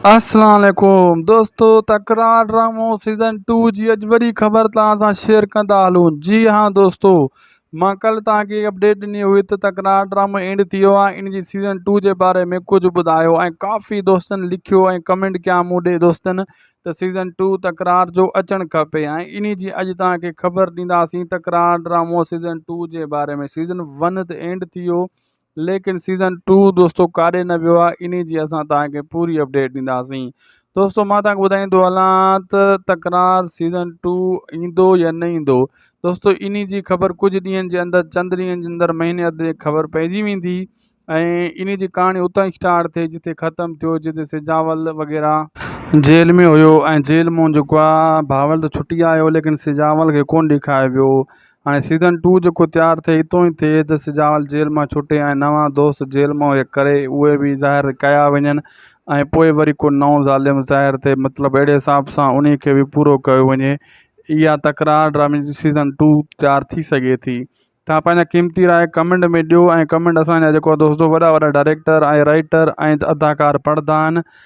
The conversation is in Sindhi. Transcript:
اسلام عليڪم دوستو تڪرار ڊرامو سيزن ٽو جي اڄ وڏي خبر توهان سان شيئر ڪندا هلون جي ها دوستو مان ڪلهه توهان کي اپڊيٽ ڏني هئي ته تڪرار ڊرامو اينڊ ٿي ويو آهي ان جي سيزن ٽو جي باري ۾ ڪجهه ٻڌايو ۽ ڪافي دوستن لکيو ۽ ڪمينٽ ڪيا مون ڏي دوستن ته سيزن ٽو تڪرار جو اچڻ کپي ۽ ان جي اڄ توهان کي خبر ڏينداسين تڪرار ڊرامو سيزن ٽو جي باري ۾ سيزن ون ته اينڊ ٿي ويو ليڪن سيزن ٽو دوستو ڪاڏي نه ويو آهي انهي جي اسان توهان کي پوري اپڊيٽ ڏينداسين دوستو مان توهان کي ٻڌائيندو هلان ته تڪرار سيزن ٽو ايندو يا نه ايندو دوستو انهي جي خبر ڪجهه ڏينهن جي اندر چند ڏينهن جي اندر مهيني اڌ جي خبر پئجي ويندي ۽ انهي جي ڪهاڻي اتان اسٽارٽ ٿئي جتي ختم ٿيو جتي سجاول وغيره جيل ۾ هيو ۽ جيل مون جيڪو آهي بهاول ته ڇٽي آيو ليڪن سجاول کي ڪونه ڏيکايو ويو هاڻي سيزن ٽو جيڪو تيار ٿئي اتو ئي ٿئي ته سجاول جيل مان ڇٽي ۽ نوان دوست جيل مئو هيڪ ڪري اهي به ظاهر ڪيا وڃن ۽ پوء وري ڪو نئون ظالم ظاهر ٿئي مطلب اهڙي حساب سان انهي کي به پورو ڪيو وڃي اها تڪرار ڊرامي جي سيزن ٽو تيار ٿي سگهي ٿي توهان پنهنجا قيمتي راء ڪمينٽ ۾ ڏيو ۽ ڪمينٽ اسان جا جيڪو دوست وڏا وڏا ڊائريڪٽر ۽ رائيٽر ۽ اداڪار پڙهندا آهن